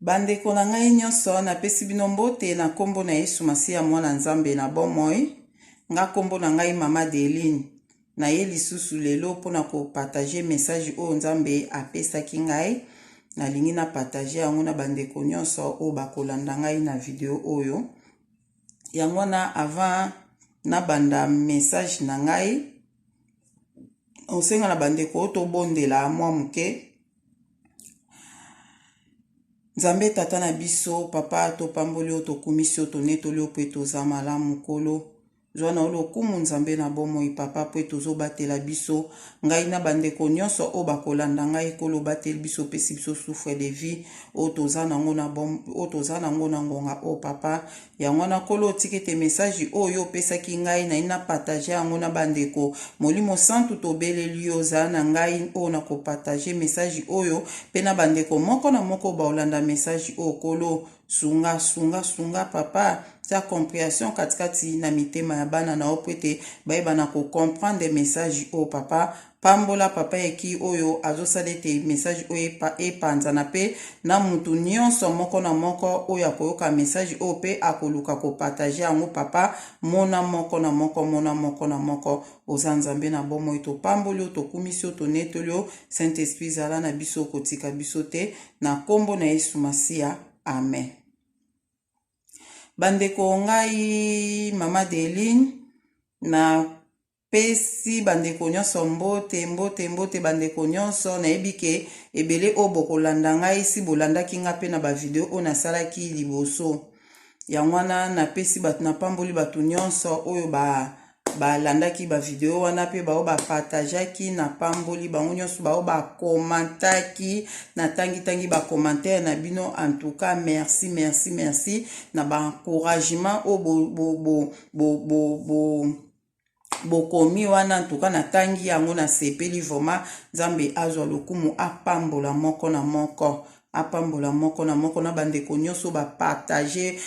Bandeko na ngai nyonso, napesi bino mbote na nkombo na Yesu Masiya, Mwana Nzambe na bomoi. Nga nkombo na ngai Mama Deline. Naye lisusu lelo mpo na kopartage message oyo Nzambe apesaki ngai. Nalingi na partage yango na bandeko nyonso oyo bakolanda ngai na video oyo. Yango wana avant nabanda message na ngai, osenga na bandeko tobondela mwa moke nzambe tata na biso papa topamboli oyo tokumisi oyo tonetoli oyo mpo ete oza malamu nkolo zwa na yo lokumu nzambe na bomoi papa mpo ete ozobatela biso ngai na bandeko nyonso oyo bakolanda ngai nkolo obateli biso opesi biso souffre de vie oyo toza nango na ngonga oyo papa Yango wana, Nkolo, tika ete mesaji oyo Yo opesaki ngai, naino na partager yango na bandeko. Molimo Santu, tobeleli Yo, zala na ngai oyo nako partager mesaji oyo, mpe na bandeko moko na moko oyo bakolanda mesaji oyo, Nkolo. Sunga, sunga, sunga, Papa. Tia comprehension katikati na mitema ya bana na Yo mpo ete bayeba na ko comprendre mesaji oyo, Papa. Pambola papa eki oyo azosala ete message oyo epanzana pe na mutu nionso moko na moko oyo akoyoka message oyo pe akoluka ko partage yango papa mona moko na moko mona moko na moko oza nzambe na bomoi topamboli yo tokumisi yo tonetoli yo saint esprit zala na biso kotika biso te na kombo na yesu masiya amen bandeko ngai mama deline na pesi bandeko nyonso mbote mbote mbote bandeko nyonso nayebi ke ebele oyo bokolanda ngai si bolandaki ngai mpe na bavideo oyo nasalaki liboso yango wana napesi bato napamboli bato nyonso oyo ba balandaki bavideo wana mpe bao bapartageaki napamboli bango nyonso bao bakomantaki natangitangi bakomantere na bino antuka merci merci merci na baencouragement oyo bo, bo, bo, bo, bo, bo bokomi wana antuka natangi yango na sepeli vraiment nzambe azwa lokumu apambola moko na moko apambola moko na moko na bandeko nyonso bapartage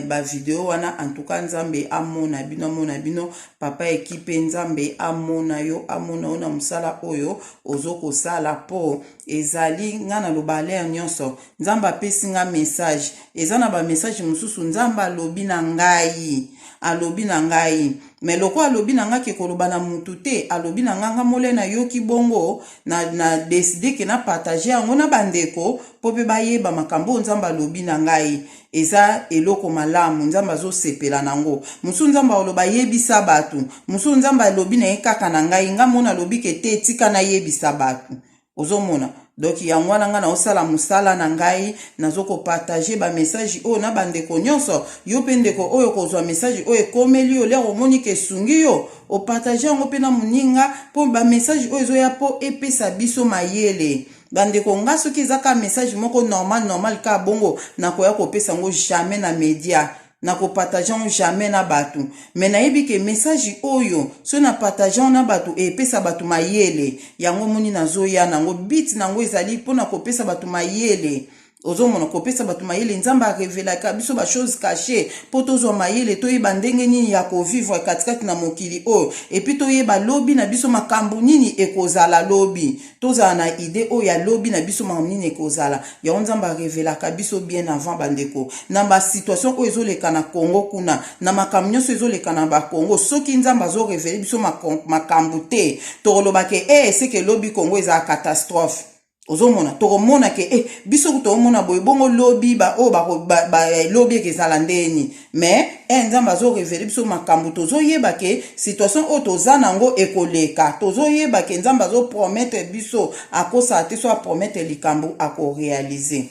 bavideo wana antuka nzambe amona bino amona bino papa ekipe nzambe amona yo amona yo na mosala oyo ozo kosala po Ezali nga na loba ler nionso nzambe apesi nga message eza na ba message mususu nzambe alobi na ngai alobi na ngai me loko alobi na nga ke koloba na mutu te alobi na nga nga mole na yoki bongo na, na deside ke na partage yango na bandeko po pe bayeba makambo oyo nzambe alobi na ngai eza eloko malamu nzambe azosepela na yango mosusu nzambe aoloba ayebisa bato mosusu nzambe alobi na ye kaka na ngai ngai mona alobi ke te etika nayebisa bato ozomona donk yango wana ngai naosala mosala na ngai nazokopartage bamessage oyo na bandeko nyonso yo mpe ndeko oyo kozwa message oyo ekomeli yo lere omoni ke esungi yo opartage yango mpe na moninga mpo bamessage oyo ezoya mpo epesa biso mayele Bandeko nga soki eza ka message moko normal normal ka bongo nakoya kopesa ngo jamais na media na ko partage ngo jamais na batu mais nayebi ke message oyo so na partage ngo na batu epesa batu mayele yango moni nazoya nango bit nango ezali pona kopesa batu mayele ozomona kopesa bato mayele nzambe arevelaka biso bachose cache mpo tozwa mayele toyeba ndenge nini ya kovivre katikati na mokili oyo epuis toyeba lobi na biso makambo nini ekozala lobi tozala na ide oyo ya lobi na biso makambo nini ekozala yango nzambe arevelaka biso bien avant bandeko na basituation oyo ezoleka na congo kuna na makambo nyonso ezoleka na bakongo soki nzambe azorevele biso makambo te tokolobake e eh, seke lobi congo ezala catastrophe ozomona tokomona ke eh, biso kutu omona boye bongo lobi baoyo oh, ba, ba, eh, lobi eke ezala ndeni mais eh, nzambe azorevele biso makambo tozoyeba ke situation oyo toza nango ekoleka tozoyeba ke nzambe azoprometre biso akosala te so aprometre likambo akorealize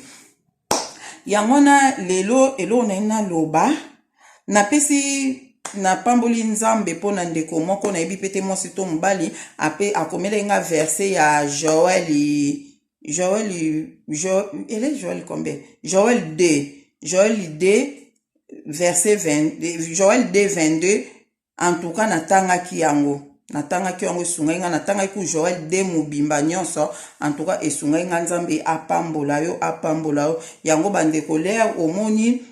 yango wana lelo eloko naye naloba napesi napamboli nzambe mpo na ndeko moko nayebi mpe te mwasi to mobali ape akomelaki nga verse ya joel joel joel ele joel combien joel 2 joel 2 verse 20 joel 2 22 En tout cas natangaki yango. Natangaki yango esungaki nga natangaki ku Joël de mobimba nyonso en tout cas esungaki nga Nzambe apambola yo apambola yo yango bande colère omoni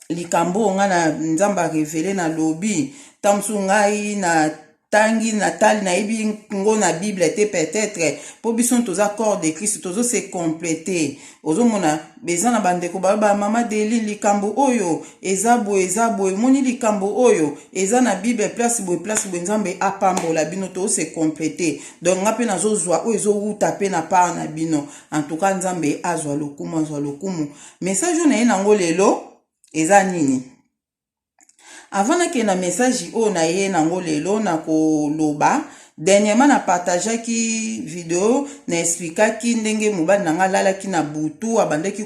likambo nga na Nzambe a révéler na lobi tamsu ngai na tangi natali nayebi ngo na bible te peut-être mpo biso toza corps de christ tozo se compléter ozomona eza na bandeko baloba mama deli likambo oyo eza boye eza boye omoni likambo oyo eza na bible place boye place boye nzambe apambola bino tose complete donc nga mpe nazozwa oyo ezowuta mpe na part na bino antuka nzambe azwa lokumu azwa lokumu message oyo na ye nango lelo eza nini Avant nakende na message oyo naye nango lelo nakoloba dernièrement na partageaki video na explikaki ndenge mobali na ngai alalaki na butu abandaki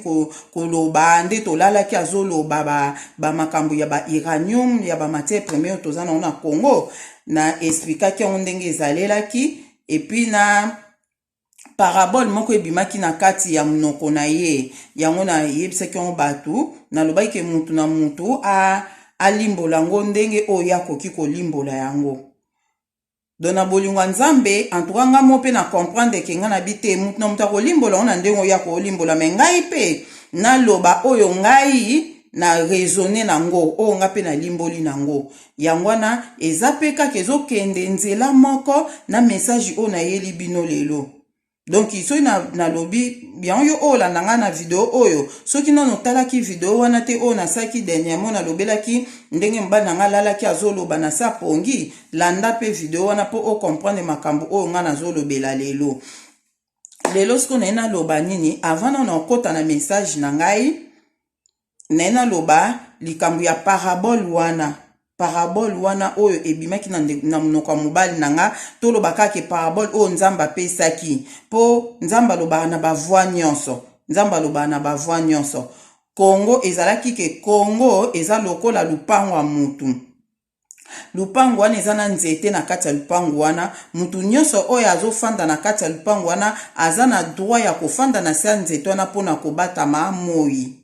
koloba nde tolalaki azoloba bamakambo ba ya ba iranium ya bamatière premier oyo toza nango na congo na explikaki yango ndenge ezalelaki epuis na parabole moko ebimaki na kati ya monoko na ye yango nayebisaki yango bato nalobaki ke motu na motu alimbola yango ndenge oyo ye akoki kolimbola yango don na bolingo ya nzambe antuka ngai mo mpe na comprendre ke ngai nabi te motu na motu akolimbola yango na ndenge oyo akolimbola me ngai mpe naloba oyo ngai na raisonne na yango oyo ngai mpe nalimboli na yango Yango wana, eza pe kaka ezo kende nzela moko na message oyo na yeli bino lelo. Donc soki na, na lobi, yango yo oyo landa nga na video oyo, soki nano otalaki video wana te oyo na salaki dernièrement na lobelaki ndenge mobali na nga alalaki azo loba na sa pongi, landa pe video wana po o comprendre makambo oyo nga nazo lobela lelo. Lelo siko na ye na loba nini avant nano okota na message na ngai? naye naloba likambo ya parabole wana parabole wana oyo ebimaki na, na monoko ya mobali na nga toloba kaka parabole oyo nzambe apesaki mpo nzambe alobaka na bavoi nyonso nzambe alobaka na bavoi nyonso kongo ezalaki ke kongo eza lokola lupango ya motu Lupangu wana eza na nzete na kati ya lupangu wana, mutu nionso oyo azo fanda na kati ya lupangu wana aza na droit ya ko fanda na se ya nzete wana pona ko batama moyi.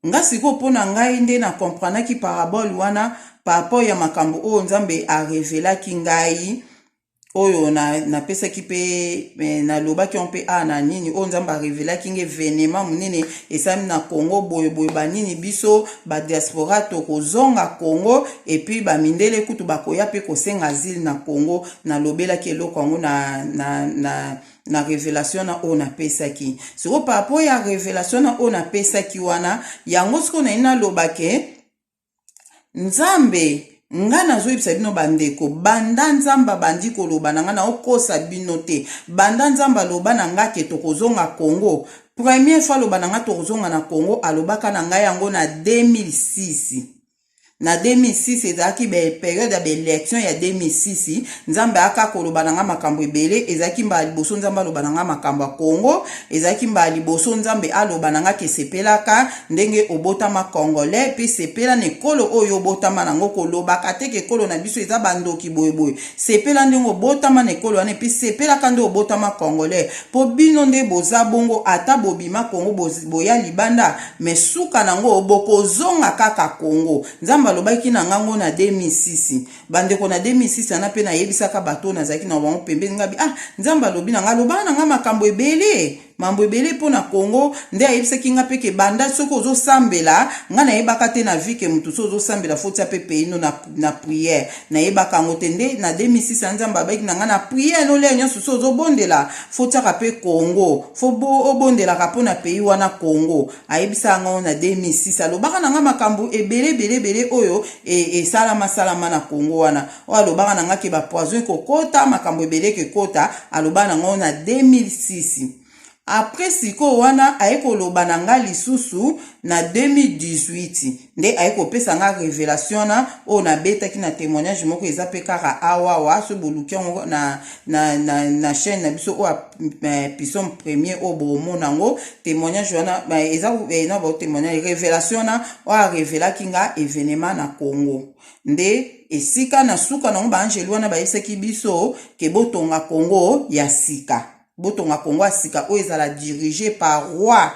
Nga sikoyo pona ngai nde na comprenaki parabole wana par rapport ya makambo oyo Nzambe a revelaki ngai oyo napesaki mpe eh, nalobaki yango mpe a na nini oyo nzambe arevelaki nge evenema monene esalami na congo boyeboye banini biso badiaspora tokozonga congo epuis bamindele kutu bakoya mpe kosenga asile na congo nalobelaki eloko yango na, na, na na revelation na oyo napesaki sikoyo parapo ya revelation na oyo napesaki wana yango sikoyo naye nalobake Nzambe nga nazoyebisa bino bandeko banda nzambe abandi koloba na nga naokosa bino te banda nzambe aloba na nga ke tokozonga congo premier fois aloba na nga tokozonga na congo alobaka na ngai yango na 2006 na 2006 ezalaki periode ya baelection ya 2006 Nzambe aka koloba na nga makambo ebele ezalaki mbala liboso Nzambe aloba na nga makambo ya Congo ezalaki mbala liboso Nzambe aloba na nga ke sepelaka ndenge obotama congolais pe sepela na ekolo oyo obotama na yango kolobaka te ke ekolo na biso eza bandoki boye boye sepela ndenge obotama na ekolo wana epi sepelaka nde obotama congolais po bino nde boza bongo ata bobima Congo boya libanda me suka na yango bokozonga kaka Congo Nzambe alobaki na ngango na 2006 bandeko na 2006 wana mpe nayebisaka bato oyo nazalaki na bango pembeni ngabi ah nzambe alobi na ngai alobaka na ngai makambo ebele mambo ebele mpo na congo nde ayebisaki ngai mpe ke banda soki ozosambela ngai nayebaka te na vie ke motu soki ozosambela fotia mpe peino na, na priere nayebaka yango te nde na 2006 ya nzambe abaki na ngai na priere nolia nyonso soki ozobondela fotiaka mpe congo fo obondelaka mpo na pays wana congo ayebisaka ngai na 2006 alobaka na ngai makambo ebele ebele ebele oyo e, esalama e, salama na Congo wana oyo alobaka na ngai ke bapoison ekokota makambo ebele ekekota alobaka na ngai na 2006 apres sikoyo wana aye koloba na ngai lisusu na 2018 nde aye kopesa nga revelation wana oyo nabetaki na témoignage moko eza mpe kaka awawa so boluki yango na, na, na, na chaîne na biso oyo eh, pisome premier oyo bomona yango témoignage wana eh, eza eh, na batémoignage revelation wana oyo arevelaki nga evenema na congo nde esika na suka nango baangeli wana bayebisaki biso ke botonga congo ya sika botonga kongo ya sika oyo ezala dirige par roi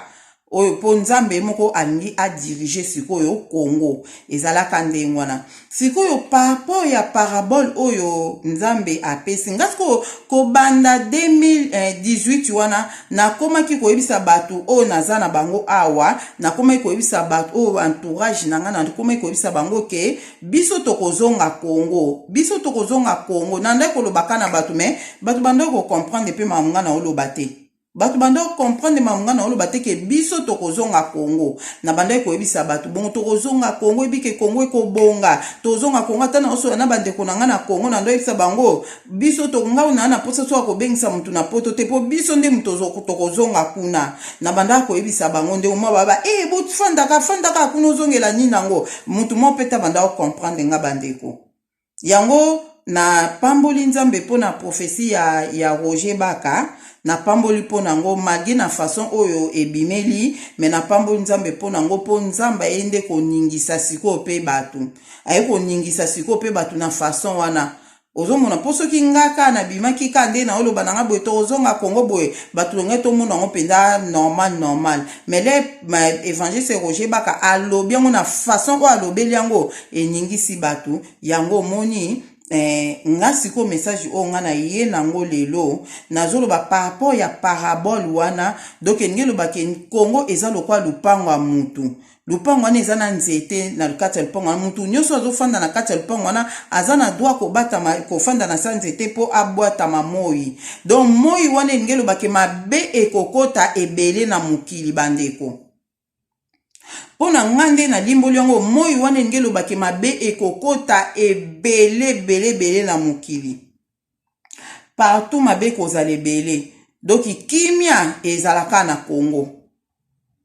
oyo mpo nzambe ye moko alingi adirige sikoyo kongo ezalaka ndenge wana sikoyo paraport ya parabole oyo nzambe apesi nga sikoyo kobanda 2018 eh, wana nakomaki koyebisa bato oyo naza na bango awa nakomaki koyebisa bato oyo entourage na ngai nakomaki koyebisa bango ke biso tokozonga congo biso tokozonga congo nandaki kolobaka na bato me bato bandaki kocomprendre mpe makambo ngai naoloba te bato bandaki kocomprendre makambo ngai naoloba te ke biso tokozonga congo na bandaki koyebisa bato bongo tokozonga congo ebike congo ekobonga tokozonga congo ata naosola na bandeko na ngai na congo nando yebisa bango Biso to ngau na na posa soka kobengisa mutu na poto te po biso nde mutu tokozonga kuna na bandaka koyebisa bango nde omwa baba e eh, bofandaka fandaka kuna ozongela nini yango mutu moko mpe ta bandaka kocomprendre nga bandeko yango na pamboli nzambe mpo na profesi ya, ya roger baka napamboli mpo na yango malgre na façon oyo ebimeli me napamboli nzambe mpo na yango mpo nzambe aye nde koningisa sikoyo mpe bato aye koningisa sikoyo mpe bato na façon wana ozomona mpo soki nga ka nabimaki ka nde naoloba na nga boye tokozonga kongo boye bato longai tomona yango mpenza normal normal mais le évangiste roger baka alobi yango na façon oyo alobeli yango eningisi bato yango omoni Eh, nga sikoyo message oyo nga naye nango lelo nazoloba par rapport ya parabole wana donc elingi eloba ke kongo eza lokola lopango ya mutu lopango wana eza na nzete na kati ya lopango wana motu nyonso azofanda na kati ya lopango wana aza na dwa kobatama kofanda na sa nzete mpo abwatama moi donc moi wana elingi elobake mabe ekokota ebele na mokili bandeko mpo na ngai nde nalimboli yango moi wana elingi elobake mabe ekokota ebele ebele ebele na mokili partout mabe ekozala ebele doki kimia ezala kaka na congo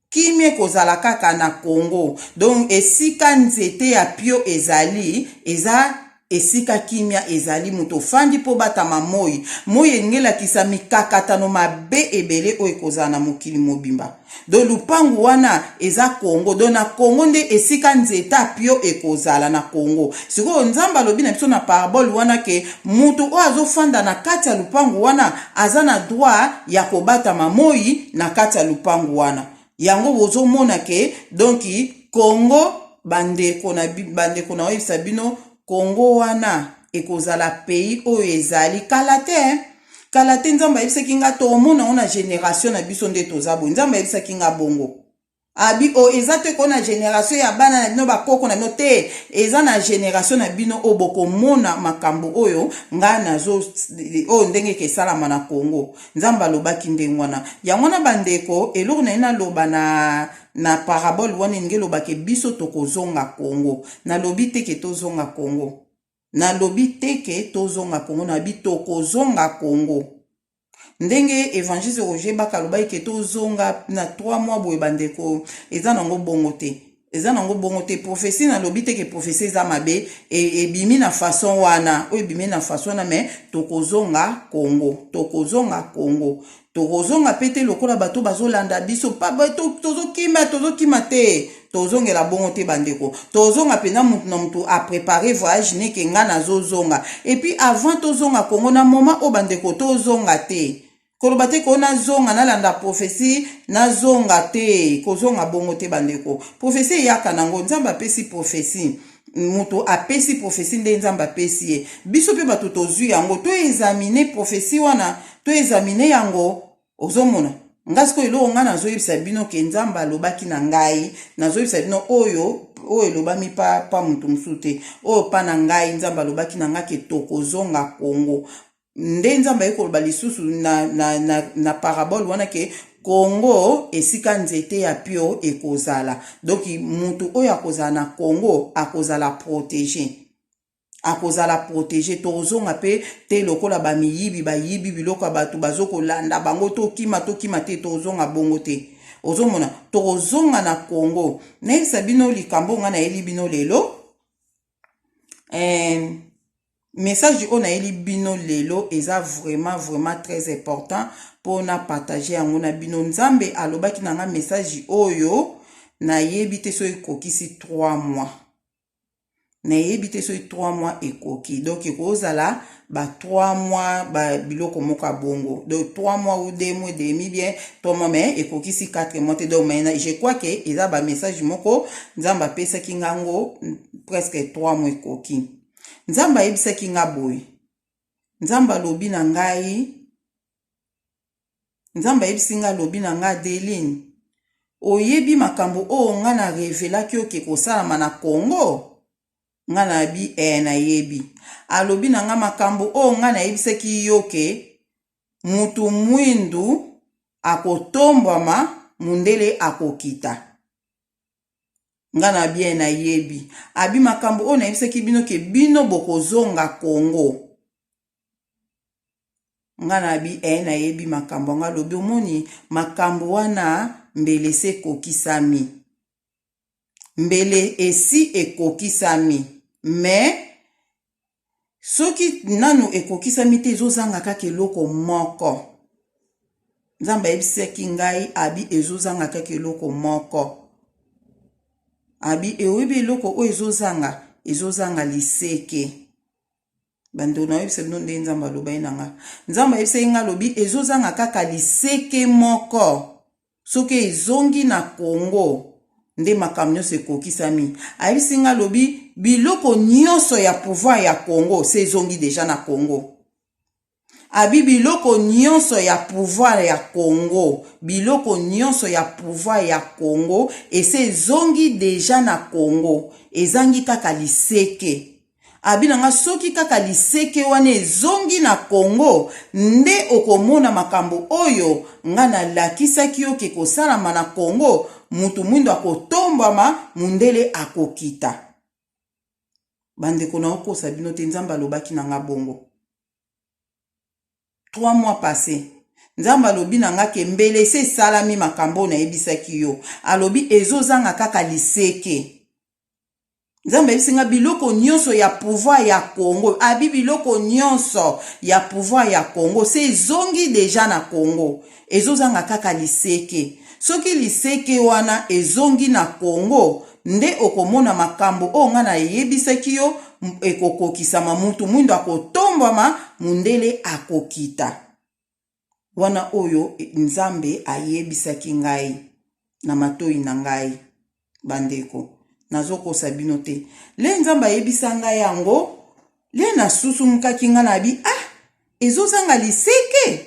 kimia ekozala kaka na congo donc esika nzete ya pio ezali eza esika kimia ezali moto ofandi mpo obatama moi moi elingi elakisa mikakatano mabe ebele oyo ekozala na mokili mobimba Do lupangu wana eza Congo do na Congo nde esika nzeta pio ekozala na Congo sikoyo nzambe alobi na biso na parabole wana ke mutu oyo azofanda na kati ya lupangu wana aza na droit ya kobatama moi na kati ya lupangu wana yango bozomona ke donki Congo bandeko na bandeko na oyebisa bino Congo wana ekozala pays oyo ezali kala te kala te nzambe ayebisaki nga toomona yango na generatio na biso nde toza boye nzambe ayebisaki nga bongo abi o oh, eza te koo na generatio ya bana na bino bakoko na bino te eza na generatio na bino oyo bokomona makambo oyo ngai nazo oyo ndenge eke esalama na congo nzambe alobaki ndenge wana yango wana bandeko eloko na ye naloba na na parabole wana elingi elobake biso tokozonga congo nalobi te ke tozonga congo Na lobi te ke to zonga Congo, na lobi toko zonga Congo. Ndenge Evangeliste Roger Baka alobaki ke to zonga na trois mois boye ba ndeko, eza nango bongo te. Eza nango bongo te. Prophetie na lobi te ke prophetie eza mabe, e, ebimi na façon wana, oyo ebimi na façon wana mais toko zonga Congo. Toko zonga Congo. tokozonga pe te lokola bato bazolanda biso tozokima tozokima te tozongela bongo te bandeko tozonga mpenza motu na motu aprepare voyage neke ngai nazozonga epuis avant tozonga kongo na moma oyo bandeko tozonga te koloba te koo nazonga nalanda profesi nazonga te kozonga bongo te bandeko profesi eyaka nango nzambe apesi profesi moto apesi profesi nde nzambe apesi ye biso mpe bato tozwi yango toezamine profesi wana toezamine yango ozomona nga sikoyo eloko ngai nazoyebisa bino ke nzambe alobaki na ngai nazoyebisa bino oyo oyo elobami pa, pa moto mosusu te oyo pa na ngai nzambe alobaki na ngai ke tokozonga kongo nde nzambe aye koloba lisusu na, na, na, na parabole wana ke kongo esika nzete ya pio ekozala donc mutu oyo akozala na kongo akozala protege akozala protege tokozonga mpe te lokola bamiyibi bayibi biloko ya bato bazokolanda bango tokima tokima te tokozonga bongo te ozomona tokozonga na kongo nayebisa bino likambo ngai nayeli bino lelo eh, Message oyo nayeli bino lelo eza vraiment vraiment très important po na partager yango na bino. Nzambe alobaki na nga message oyo nayebi te soki ekokisi 3 mois. Nayebi te soki 3 mois ekoki. Donc ekozala ba 3 mois ba biloko moko ya bongo. Donc 3 mois ou 2 mois demi bien 3 mois mais ekokisi 4 mois te. Donc mais je crois que eza ba message moko Nzambe apesaki ngango presque 3 mois ekoki. Nzambe ayebisaki nga boye, Nzambe alobi na ngai, Nzambe ayebisi nga alobi na nga Adeline, oyebi makambo oyo nga na revelaki oke kosalama na Congo? Nga na bi e eh, nayebi. Alobi na nga makambo oyo nga nayebisaki yo ke mutu mwindu akotombwama mundele akokita. nga na bien na yebi abi makambo oyo nayebisaki bino ke bino bokozonga congo nga na bi e eh, nayebi makambo nga lobi omoni makambo wana mbele se kokisami mbele esi ekokisami mais soki nanu ekokisami te ezozanga kaka eloko moko nzambe ayebisaki ngai abi ezozanga kaka eloko moko abi eoyebi eloko oyo ezozanga ezozanga liseke bandeko nayebisa bino ndenge nzambe alobaki na ngai nzambe ayebisaki ngai alobi ezozanga kaka liseke moko Soki ezongi na Congo nde makambo nionso ekokisami. Ayebisi nga alobi biloko nionso ya pouvoir ya Congo se ezongi deja na Congo. Abi biloko nionso ya pouvoir ya Congo, biloko nionso ya pouvoir ya Congo ese ezongi deja na Congo. Ezangi kaka liseke. Abi na nga soki kaka liseke wana ezongi na Congo nde okomona makambo oyo nga na lakisaki yo ke kosalama na Congo mutu muindu akotombwama mundele akokita. Ba ndeko nao kosa bino te Nzambe alobaki na nga bongo. Trois mois passe Nzambe alobi na nga ke mbele esi esalami makambo oyo nayebisaki yo. Alobi ezozanga kaka liseke. nzambe ayebisi nga biloko nyonso ya pouvoir ya congo abi biloko nyonso ya pouvoir ya congo se ezongi deja na congo ezozanga kaka liseke soki liseke wana ezongi na congo nde okomona makambo oyo ngai nayebisaki yo ekokokisama mutu mwindo akotombwama mundele akokita Wana oyo Nzambe ayebisaki ngai na matoyi na ngai, bandeko. Nazokosa bino te. Le Nzambe ayebisa ngai yango, le nasusumukaki ngai na bi, ah, ezozanga liseke?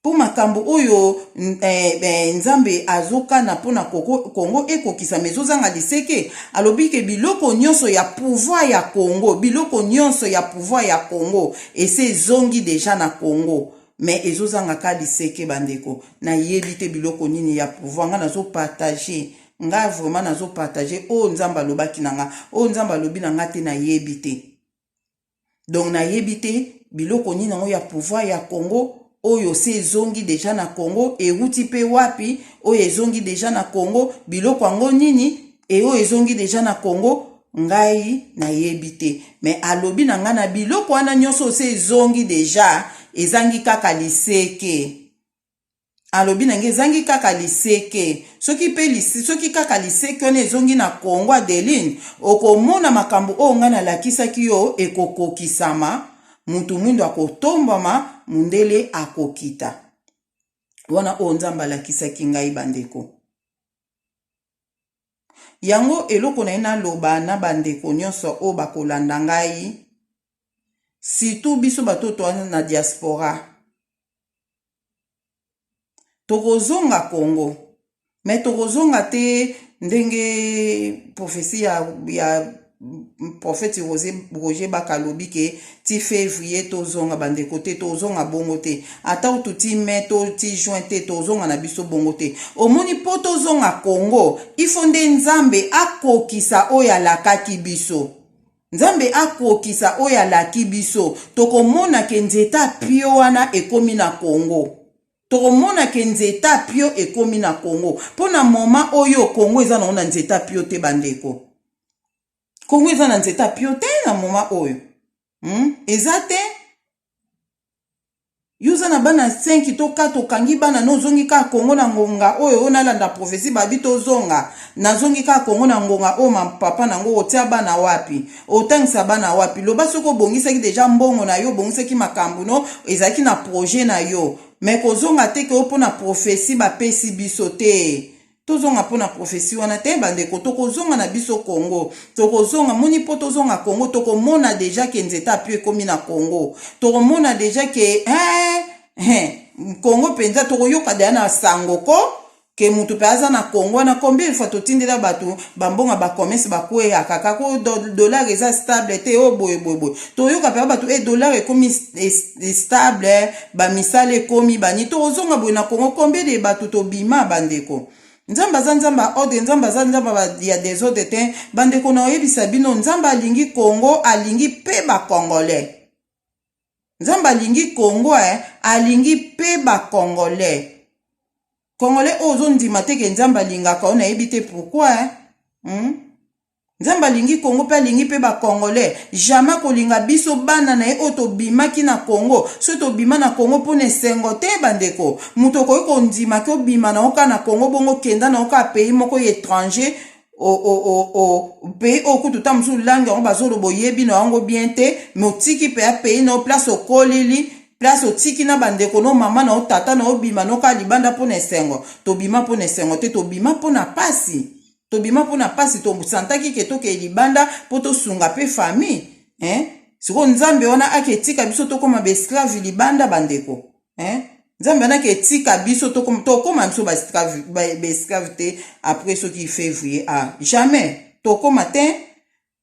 Mpo makambo oyo eh, eh, Nzambe azokana mpo na Kongo ekokisama ezozanga liseke. Alobi ke biloko nyonso ya pouvoir ya Kongo, biloko nyonso ya pouvoir ya Kongo Esi ezongi dejà na Congo mais ezo zanga ka liseke ba ndeko na yebi te biloko nini ya pouvoir nga nazo partage nga vraiment nazo partage oyo nzambe alobaki na nga oyo nzambe alobi na nga te na yebi te donc na yebi te biloko nini yango ya pouvoir ya Congo oyo se ezongi deja na Congo ewuti pe wapi oyo ezongi deja na Congo biloko yango nini eyo ezongi deja na Congo ngai nayebi te me alobi na ngai na biloko wana nyonso se ezongi deja ezangi kaka liseke alobi na ngai ezangi kaka liseke soki mpe soki kaka liseki wana ezongi na kongo adeline okomona makambo oyo ngai nalakisaki yo ekokokisama Mutu mwindo akotombwama, mundele akokita. Wana oyo Nzambe alakisaki ngai, bandeko. Yango eloko na ye naloba na bandeko nyonso oyo bakolanda ngai, situ biso batoto wana na diaspora. tokozonga congo mais tokozonga te ndenge prophetie ya, ya prophète roger baka alobi ke ti février tozonga bandeko te tozonga bongo te ata utu ti mai to ti juin te tozonga na biso bongo te omoni mpo tozonga congo ifo nde nzambe akokisa oyo alakaki biso Nzambe akokisa oyo alaki biso. Tokomona ke nzeta pio wana ekomi na Congo. Tokomona ke nzeta pio ekomi na Congo. Po na moma oyo Congo eza nango na nzeta pio te bandeko. Congo eza na nzeta pio te na moma oyo. Hmm? Eza te. Yo oza na bana 5 to 4 okangi bana no ozongi kaka Congo na ngonga oyo oyo nalanda prophetie babi tozonga nazongi kaka Congo na ngonga oyo ma papa nango otia bana wapi otangisa bana wapi loba soki obongisaki deja mbongo na yo obongisaki makambo no ezalaki na projet na yo me kozonga te ke opona prophetie bapesi biso te Tozonga mpo na prophetie wana te bandeko, tokozonga na biso Congo, tokozonga moni mpo tozonga Congo, tokomona deja ke nzete apio ekomi na Congo, tokomona deja ke eh, eh, Congo mpenza, tokoyoka deja na sango ko ke moto mpe aza na Congo wana. Combien fois totindela bato bambonga bakomesi bakweyaka kaka o dollar eza stable te o boye boye boye, toyoka mpe bato e dollar ekomi stable ba misala ekomi bani tokozonga boye na congo combien de bato tobima bandeko nzambe aza nzambe ya ordre nzambe aza nzambe ya desordre te bandeko na oyebisa bino nzambe alingi congo alingi mpe bacongolais nzambe alingi congo eh, alingi mpe bacongolais congolais oyo ozondima te ke nzambe alingaka oyo nayebi te pourkui eh? hmm? Nzambe alingi Congo pe alingi pe ba congolais. Jamais akolinga biso bana na ye oyo tobimaki na Congo. Soki tobima na Congo pona esengo te ba ndeko. Mutu okoki kondima ke obima na yo kaka na Congo bongo okenda na yo kaka pays moko ya etranger o o o o pays oyo kutu ta mosusu langue yango bazoloba oyebi na yango bien te mais otiki mpeya pays na yo place okolili place otiki na bandeko no mama na yo tata na yo obima no kaka libanda mpo na esengo tobima mpo na esengo te tobima mpo na pasi tobima mpo na mpasi tosantaki ke tokei libanda mpo tosunga mpe famille eh? sikoyo nzambe wana ake etika biso tokoma baesclave libanda bandeko eh? nzambe wana ake etika biso tokoma biso baesclave te après soki février a ah, jamais tokoma te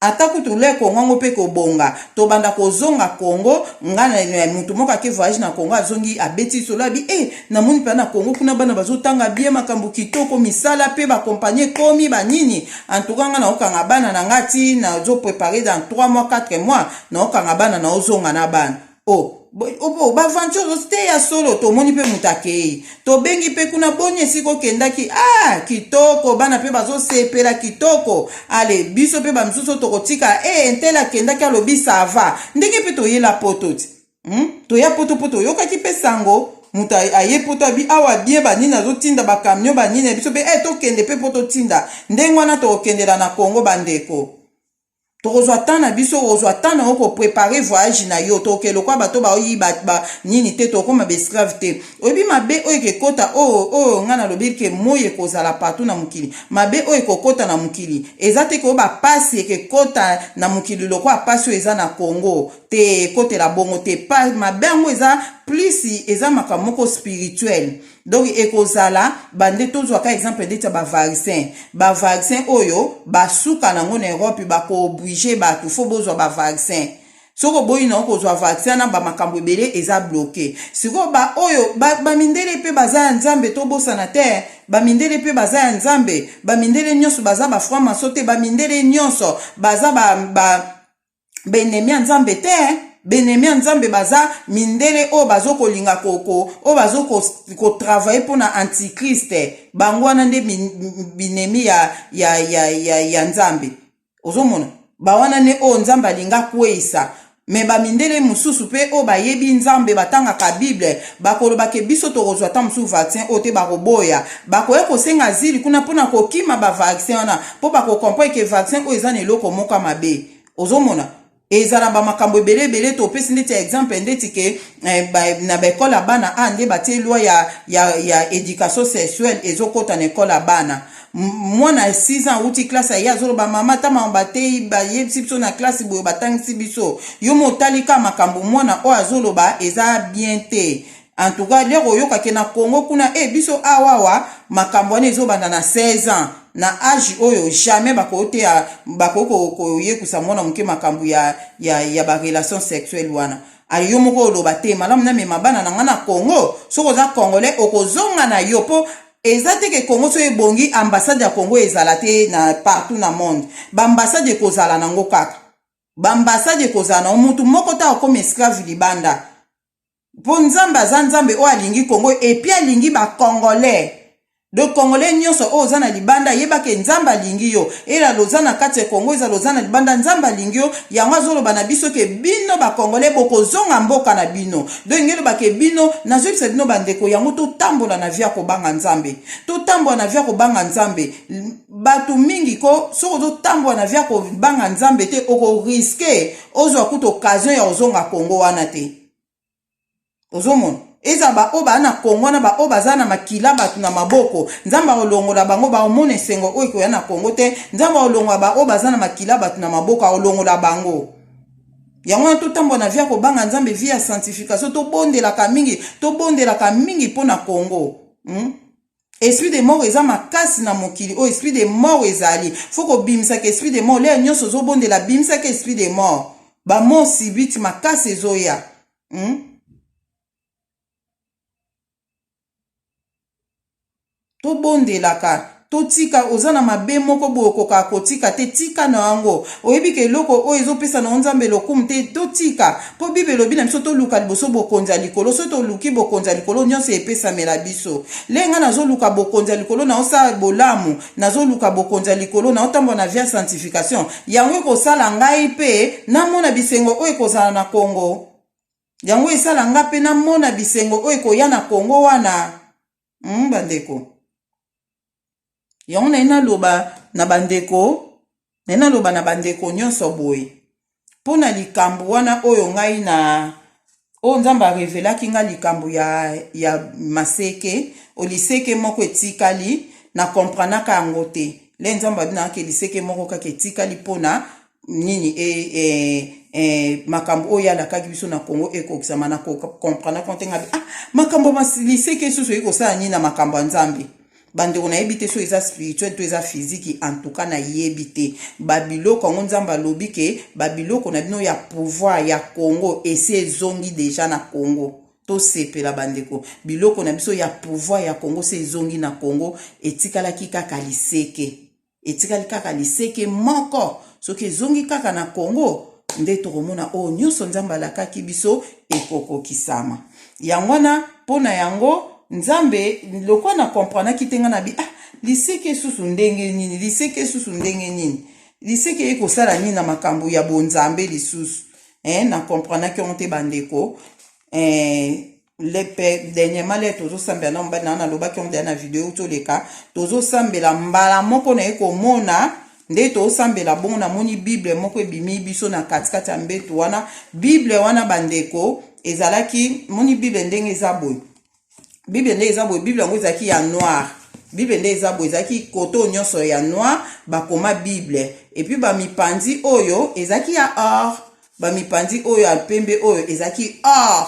ata kutu le kongo yango mpe kobonga tobanda kozonga kongo nga na eh, moto moko ake voyage na kongo azongi abeti lisolo abi e eh, namoni mpenza na kongo kuna bana bazotanga bie makambo kitoko misala mpe bakompani ekomi banini antuka nga naokanga bana na nga ti nazoprepare dans 3 mois 4 mois naokanga bana naozonga na bana Oh, oh, baventure te ya solo tomoni mpe moto akei tobengi mpe kuna boni esika okendaki ah kitoko bana mpe bazosepela kitoko ale biso mpe bamosusu tokotika e eh, ntela akendaki alobi sava ndenge mpe toyela poto ti hmm? toya poto mpo toyokaki mpe sango moto aye poto abi awa bie banini azotinda bakamio banini ya biso mpe e eh, tokende mpe mpo totinda ndenge wana tokokendela na kongo bandeko tokozwa temps na biso okozwa temps na yo koprepare voyage na yo toke lokwa bato baoyiba ba, nini te tokoma baesclave te oyebi mabe oyo ekekota oyo oyo ngai nalobeli ke moi ekozala partout na mokili mabe oyo ekokota na mokili eza te koyo bapasi ekekota na mokili lokwa pasi oyo eza na congo te ekotela bongo te pa mabe yango eza plus eza makambo moko spirituel donc ekozala bande tozwa ka exemple ndeti ya bavaccin bavaccin oyo basuka nango na europe bakooblige bato fo bozwa bavaccin soki oboyi na okozwa vaccin na bamakambo ebele eza bloke sikoyo baoyo bamindele ba mpe baza ya nzambe tobosana te bamindele mpe baza ya nzambe bamindele nyonso baza bafranc maso te bamindele nyonso baza ba, ba baenemi ya nzambe te baenemi ya nzambe baza mindele oyo bazokolinga koko oyo bazokotravaille mpo na antichriste bango wana nde binemi ya, ya, ya, ya, ya nzambe ozomona bawana nde oyo nzambe alinga kweisa me bamindele mosusu mpe oyo bayebi nzambe batangaka bible Bakoloba que biso tokozwa ata mosusu vaccin oyo te, bakoboya. Bakoya kosenga azili kuna mpo na kokima ba vaccin wana, mpo bako comprendre que vaccin oyo eza na eloko moko ya mabe. Ozomona? Ezala ba makambo ebele ebele, topesi ndeti ya exemple ndeti que eh, ba, na ba ecole ya bana a nde batie loi ya, ya, ya education sexuelle ezokota na ecole ya bana. mwana ya 6 ans awuti classe aye azoloba mama ata mama bateyi bayebisi biso na classe boye batangisi biso yo motali kaka makambo mwana oyo azoloba eza bien te en tout cas lere oyoka ke na congo kuna e eh, biso awawa makambo wana ezobanda na 16 ans na age oyo jamais bakoki teya bakoki koyekusa mwana moke makambo ya, ya, ya barelation sexuelle wana ayo yo moko oloba te malamu namema bana na ngai na congo soki oza congolais okozonga na yo mpo eza te ke Congo soki ebongi ambassade ya Congo ezala te na partout na monde ba ambassade ekozala nango kaka ba ambassade ekozala nango mutu moko ta okoma esclave libanda mpo nzambe aza nzambe oyo alingi kongo epi alingi bacongolais donc congolais nyonso oyo oza na libanda yeba ke nzambe alingi yo ela loza na kati ya kongo eza loza na libanda nzambe alingi yo yango azoloba na biso ke bino bacongolais bokozonga mboka na bino Donc ndenge elobake bino nazoyebisa bino bandeko yango totambola na vie ya kobanga nzambe totambola na vie ya kobanga nzambe bato mingi ko soki ozotambola na vie ya kobanga nzambe te okoriske ozwa kutu occasion ya kozonga kongo wana te ozomona ezala baoyo baa na kongo wana baoyo baza na makila bato na maboko nzambe akolongola bango bakomona esengo oyo ekoya na kongo te nzambe akolongola baoyo baza na makila bato na maboko akolongola bango yango wana totambwa na vi ya kobanga nzambe vi ya sanctification tobondelaka mingi tobondelaka mingi mpo na congo hmm? esprit de mort eza makasi na mokili oyo oh, esprit de mort ezali fo kobimisaka esprit de mort leya nyonso ozobondela bimisaka esprit de mort bamor sibiti makasi ezoya hmm? tobondelaka totika oza na mabe moko boye okokaka kotika te tika na yango oyebi ke eloko oyo ezopesa na yo nzambe lokumu te totika mpo bible elobi na biso toluka liboso bokonzi ya likolo soki toluki bokonzi ya likolo nyonso epesamela biso le ngai nazoluka bokonzi ya likolo na osala bolamu nazoluka bokonzi ya likolo na otambwa na vie ya sanctification yango ekosala ngai mpe namona bisengo oyo ekozala na kongo yango esala nga mpe namona bisengo oyo ekoya na kongo wana mm, bandeko yango naye naloba na bandeko naye naloba na bandeko nyonso boye mpo na likambo wana oyo ngai na oyo nzambe arevelaki ngai likambo ya, ya maseke oliseke moko etikali na kompranaka yango te le nzambe abinaka liseke moko kaka etikali mpo na nini e, e, e, makambo oyo alakaki biso na congo ekokisama na comprendre konte ngabi ah, makambo liseke esusu oyi kosala nini na makambo ya nzambe bandeko nayebi te so eza spirituel to eza fiziki antuka nayebi te babiloko yango nzambe alobi ke babiloko na bino ya pouvoir ya congo esi ezongi deja na congo tosepela bandeko biloko na biso ya pouvoir ya congo se ezongi na congo etikalaki kaka liseke etikali kaka liseke moko soki ezongi kaka na congo nde tokomona oyo nyonso nzambe alakaki biso ekokokisama yango wana mpo na yango nzambe lokwa na kompranaki te ngai na bi ah liseke esusu ndenge nini liseke esusu ndenge nini liseke ye kosala nini na makambo ya bonzambe lisusu eh, na kompranaki yango te bandeko eh, lepe dernièrement le tozosambela na mobali na wana alobaki yango deya na video euti oleka tozosambela mbala moko naye komona nde tosambela bongo namoni bible moko ebimi biso na katikati ya mbeto wana bible wana bandeko ezalaki moni bible ndenge eza boye bible ndenge eza boye bible yango ezalaki ya noire bible nde eza boye ezalaki koto nyonso ya noire bakoma bible epuis bamipanzi oyo ezalaki ya or ba mipanzi oyo ya pembe oyo ezaki or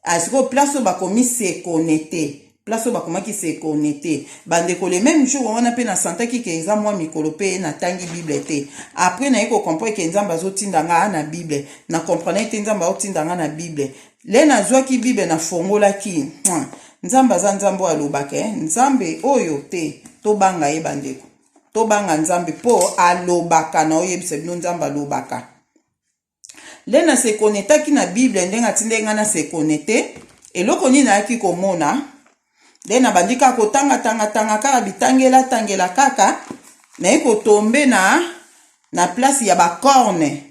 asiko ah, place oyo bakomi se connecter place oyo bakomaki se connecter bandeko le même jour wana mpe na santaki ke eza mwa mikolo mpe natangi bible te après naye kocomprendre ke nzambe azotinda ngaa na bible na comprendre te nzambe aotinda ngaa na bible le nazwaki bible nafongolaki nzambe aza nzambe oyo alobaka eh? nzambe oyo te tobanga ye bandeko tobanga nzambe mpo alobaka na oyebisa bino nzambe alobaka nde na se konetaki na bible ndenge atindaki ngai na se konete eloko nini nayaki komona nde nabandi kaka kotangatangatanga kaka bitangelatangela kaka naye kotombe na na place ya bacorne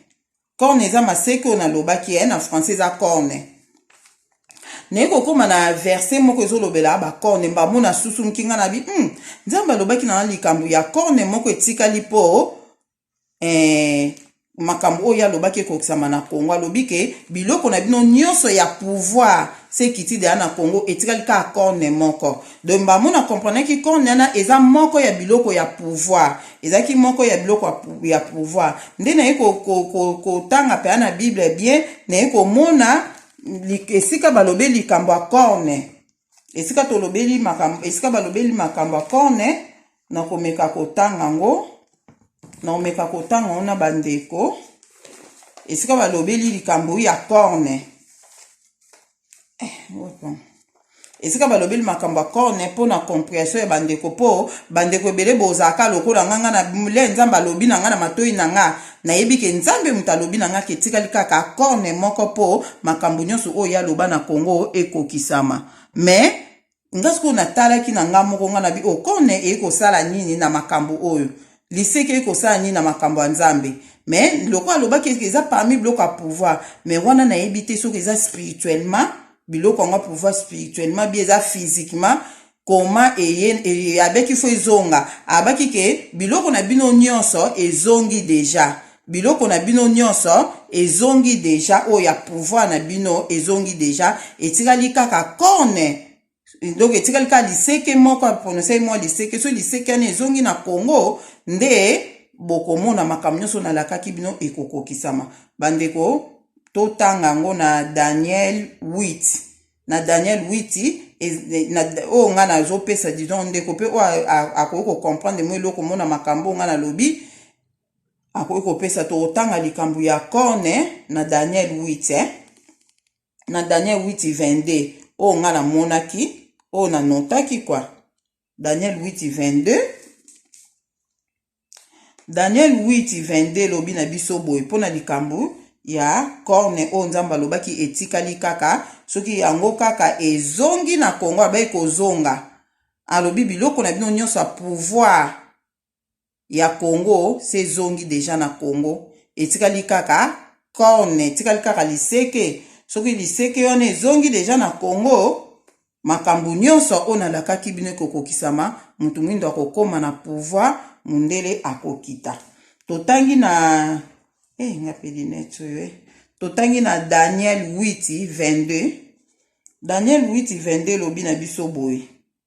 corne eza maseke oyo nalobaki eh, na français eza corne naye kokóma na verse moko ezolobela bacorne mbamo na susunki ngai nabi hmm, nzambe alobaki na likambo ya corne moko etikali mpo eh, makambo oyo alobaki ekokisama na congo alobi ke biloko na bino nyonso ya pouvoir sekiti deya na congo etikali kaka corne moko Donc Mbamu na comprenaki corps nana eza moko ya biloko ya pouvoir. Ezalaki moko ya biloko ya pouvoir. Nde naye ko ko ko kotanga pena na Bible bien, naye komona esika balobe likambo ya corne. Esika tolobeli makambo, esika balobeli makambo ya corne, na komeka kotanga ngo. Na komeka kotanga ngo na bandeko. Esika balobeli likambo ya corne. esika balobeli makambo ya corne mpo na comprehension ya bandeko mpo bandeko ebele bozalaka lokola nga nga na le nzambe alobi na nga na matoi na nga nayebi ke nzambe moto alobi na nga ke etikali kaka corne moko mpo makambo nyonso oyo ye aloba na congo ekokisama mais nga sikoyo natalaki na nga moko nga na bi okone oh, eye kosala nini na makambo oyo liseke eye kosala nini na makambo ya nzambe mais lokola alobaki eza parmi biloko ya pouvoir mais wana nayebi te soki eza spirituellement biloko yango ya pouvoir spirituellement bi eza physiquement koma eye e, abeki fo ezonga abaki ke biloko na bino nyonso ezongi deja biloko na bino nyonso ezongi deja oyo ya pouvoir na bino ezongi deja etikali kaka corne donc etikali kaka liseke moko apronosaki mwa liseke so liseke wana ezongi na congo nde bokomona makambo nyonso nalakaki bino ekokokisama bandeko totanga yango na daniel 8 na daniel 8 oyo ngai nazopesa disons ndeko mpe oyo akoki kocomprendre mwa eloko mona makambo oyo ngai nalobi akoki kopesa tokotanga likambo ya corne na daniel 8 eh? na daniel 8 22 oyo ngai namonaki oyo nanotaki kwa daniel 8 22 daniel 8 22 elobi na biso boye mpo na likambo ya corne oyo nzambe alobaki etikali kaka soki yango kaka ezongi na kongo abaki kozonga alobi biloko na bino nyonso ya pouvoir ya Congo se ezongi deja na Congo, etikali kaka corne, etikali kaka liseke. Soki liseke wana ezongi deja na Congo, makambo nyonso oyo nalakaki bino ekokokisama, moto mwindo akokoma na pouvoir, mundele akokita. Totangi na eh, nga pe lunette oyo eh. Totangi na Daniel 8 22. Daniel 8 22 elobi na biso boye.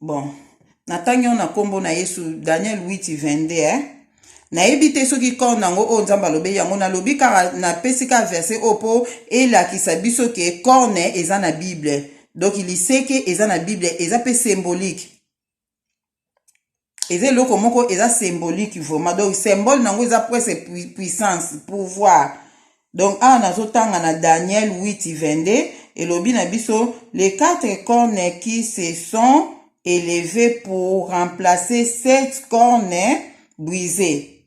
bon natangi yango na nkombo na yesu daniel 822 eh? nayebi te soki corne yango oyo nzambe alobeli yango nalobi kaka napesi kaka verse oyo mpo elakisa biso ke corne eza na bible donk liseke eza na bible eza mpe symbolique eza eloko moko eza symbolique vraiment donc symbole nango eza prese puissance pouvoir donc awa nazotanga na daniel 8 22 elobi na biso les quatre cornes qui se sont élevées pour remplacer sept cornes brisées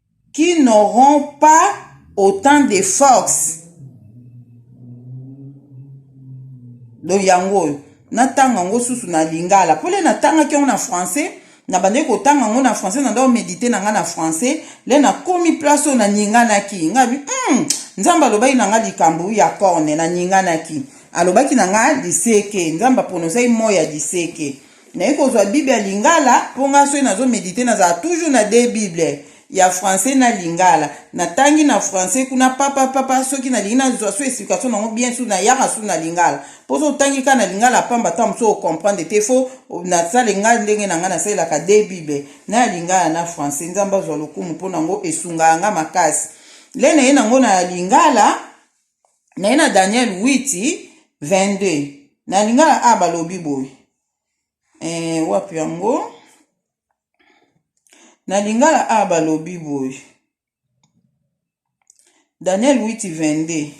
qui n'auront pas autant de force donc yango oyo natanga yango susu na lingala mpo le natangaki yango na français nabandaki kotanga yango na français nanda omedite na ngai na français le nakomi place oyo naninganaki ngai bi mm, nzambe alobaki na ngai likambo ya corne naninganaki alobaki na ngai liseke nzambe apronosaki moi ya liseke Naye kozwa bible ya lingala po nga soki nazo medite nazala toujours na de bible ya français na lingala natangi na français kuna papa papa soki nalingi nazwa so explication nango bien su nayaka su na lingala mpo so otangi kaka na lingala pamba ta mosusu okomprendre te fo nasale ngai ndenge na ngai nasalelaka de bible na ya lingala na français nzambe azwa lokumu mpo nango esungaka ngai makasi le naye nango na lingala naye na daniel 8 22 na lingala a balobi boye e, wapi yango na lingala a balobi boye daniel 8 22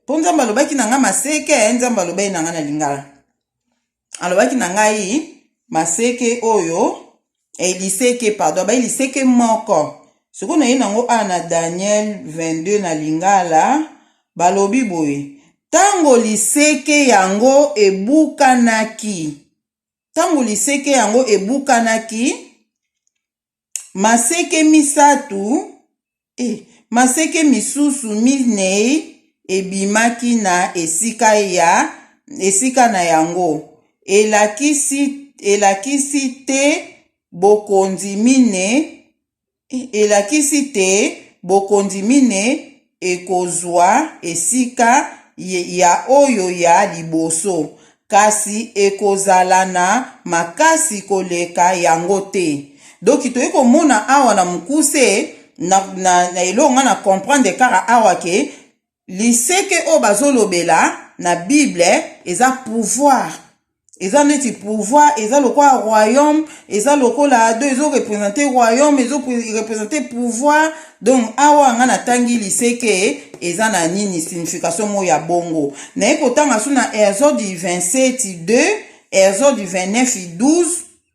mpo nzambe alobaki na ngai maseke nzambe alobaki na ngai na lingala alobaki na ngai maseke oyo eh, liseke pardon abai liseke moko sikoyo naye nango awa na daniel 22 na lingala balobi boye ntango liseke yango ebukanaki ntango liseke yango ebukanaki Maseke misato, e, maseke misusu minei ebimaki na esika ya esika na yango, elakisi elakisi te bokonzi mine, e, elakisi te bokonzi mine. ekozwa esika ya oyo ya liboso, kasi ekozala na makasi koleka yango te. Donc toye komona awa na mukuse na, na, na eloko nga na comprendre kaka awa ke liseke oyo bazolobela na bible eza pouvoir eza neti pouvoir eza lokola royaume eza lokola ado ezo represente royaume ezo represente pouvoir donc awa nga natangi liseke eza na nini signification moko ya bongo naye kotanga so na exode 27 2 exode 29 12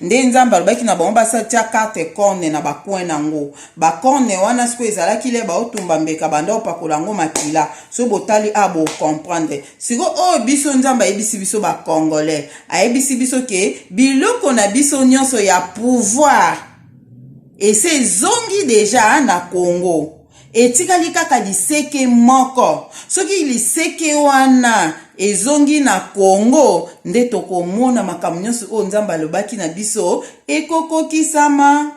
nde nzambe alobaki na bango basatia karte corne na bacoin na yango bacorne wana sikoyo ezalaki le baotumba mbeka banda opakola yango makila so botali a ah, bocomprendre sikoyo oyo oh, biso nzambe ayebisi biso bacongolais ayebisi biso ke biloko na biso nyonso ya pouvoir ese ezongi deja na congo Etikali kaka liseke moko. Soki liseke wana ezongi na Congo, nde tokomona makambo nyonso oyo Nzambe alobaki na biso ekokokisama.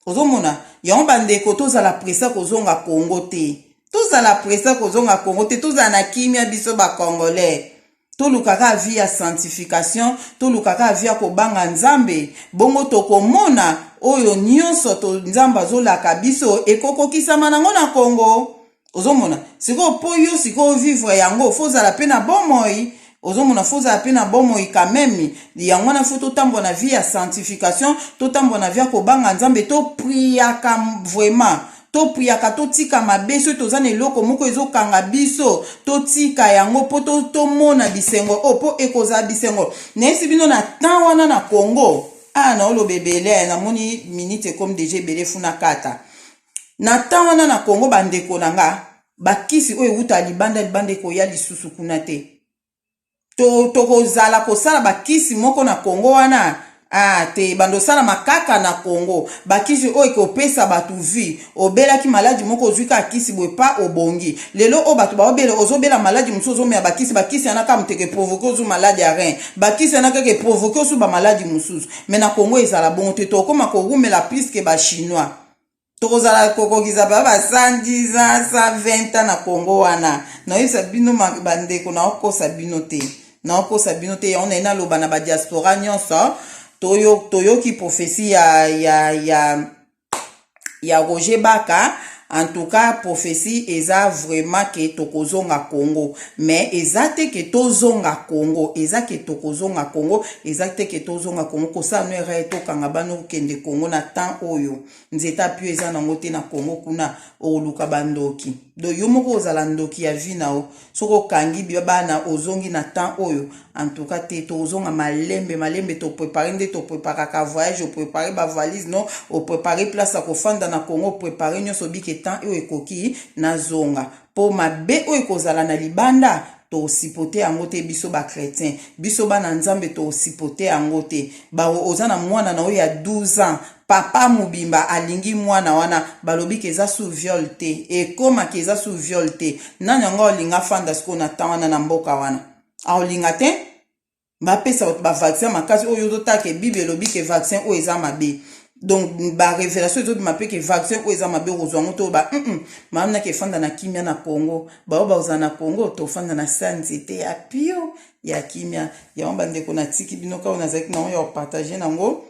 Ozomona? Yango bandeko, tozala presa kozonga Congo te. Tozala presa kozonga Congo te, tozala na kimia biso ba Congolais. toluka kaka vie ya sanctification toluka kaka vie ya kobanga nzambe bongo tokomona oyo nyonso to nzambe azolaka biso ekokokisama nango na kongo ozomona sikoyo mpo yo sikoyo vivre yango fo ozala mpe na bomoi ozomona fo ozala mpe na bomoi kameme yango wana fo totambwa na vie ya sanctification totambwa na vie ya kobanga nzambe topriaka vraiment topuyaka totika mabe soki toza na eloko moko ezokanga biso totika yango mpo tomona bisengo oyo oh, mpo ekozala bisengo nayesi bino na temps wana na congo aa ah, naoloba ebele namoni minute ekomi deja ebele funa kata na temps wana na congo bandeko na nga bakisi oyo ewuta libanda libanda ekoya lisusu kuna te tokozala to kosala bakisi moko na congo wana Ah, te bando sala makaka na Congo bakisi oyo ekopesa bato vie obelaki maladi moko ozwi kaka kisi boye pa obongi lelo oyo bato baobela ozobela maladi mosusu ozomela bakisi bakisi yana kaka moteke provoke ozwi maladi ya rein bakisi yana kaka eprovoke ozwi bamaladi mosusu me na Congo ezala bongo te tokoma kowumela pliske bachinois tokozala kokokisa ba ba 110 ans 120 ans na congo wana naoyebisa bino bandeko naokosa bino te naokosa bino te yango naye naloba na badiaspora nyonso toyoki toyo profesi ya, ya, ya, ya roger baka en tout cas prophétie eza vraiment ke tokozonga congo mais eza te ke tozonga congo eza ke tokozonga congo eza te ke tozonga congo kosala no erreur tokanga bana okende congo na temps oyo nzete apio eza nango te na congo kuna okoluka bandoki do yo moko ozala ndoki ya vi na yo soki okangi biba bana ozongi na temps oyo antuka te tokozonga malembe malembe toprepare nde topreparaka voyage oprepare bavalise no oprepare place ya kofanda na congo oprepare nyonso bike temps oyo ekoki nazonga po mabe oyo ekozala na libanda tosipote yango te biso ba chretien biso bana nzambe tosipote yango te bawo oza na mwana na oyo ya 12 ans papa mobimba alingi mwana wana balobi ke eza sous viol te ekoma ke eza sous viol te nani yango aolinga afanda sikoyo na temps wana na mboka wana aolinga te bapesa bato bavaccin makasi oyo ozotala ke bible elobi ke vaccin oyo eza mabe donc barévélation ezobima mpe ke vaccin oyo eza mabe okozwa yango toyoba mm maami nake efanda na kimia na congo baoyo bakozala na congo tofanda na sa nzete ya pio ya kimia yango bandeko natiki bino kaka nazalaki na yango ya kopartage na yango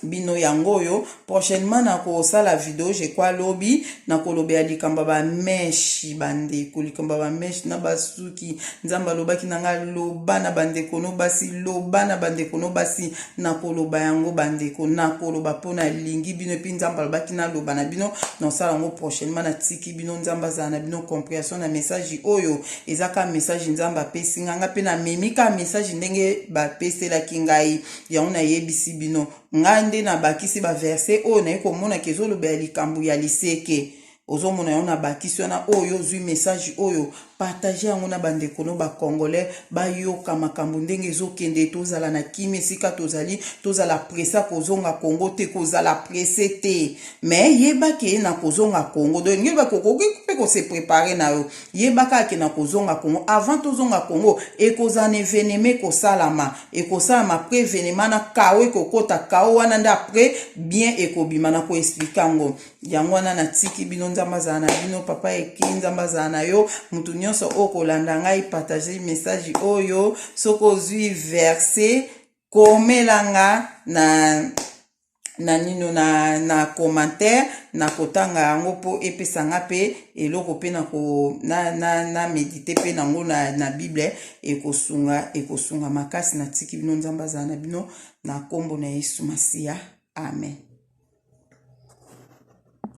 bino yango oyo prochainement nakosala video je crois lobi nakolobela likambo ya bameshe bandeko likambo ya bameshe na basuki nzambe alobaki na ngai loba na bandeko no basi loba na bandeko no basi nakoloba yango bandeko nakoloba mpo nalingi bino epuis nzambe alobaki naloba na bino nasala yango prochainement natiki bino nzambe azala na bino comprehension na message oyo eza ka message nzambe apesi ngai ngai mpe namemi ka message ndenge bapeselaki ngai Yango nayebisi bino, ngai nde nabakisi baverse oyo naye komonaka ezolobela likambo ya liseke. Ozomona yango nabakisi wana, oyo ozwi message oyo, partage yango na bandeko no ba congolais bayoka makambo ndenge ezokende, tozala na kimia esika tozali, tozala pressa kozonga Congo te, kozala presse te, mais yeba ke na kozonga Congo, donc yeba ke okoki mpe ko se preparer na yo, yeba kaka ke na kozonga Congo, avant tozonga Congo ekozala na evenement ekosalama, ekosalama après evenement na kao ekokota kao wana nde après bien ekobima na koexplike yango yango wana natiki bino nzambe azala na bino papa eki nzambe azala na yo moto nyonso oyo kolanda ngai partage message oyo soki ozwi verse komelanga na na nino na, na commentaire nakotanga yango mpo epesa nga mpe eloko mpe na, na, na medite mpe nango na, na bible ekosunga ekosunga makasi natiki bino nzambe azala na bino na nkombo na yesu masiya amen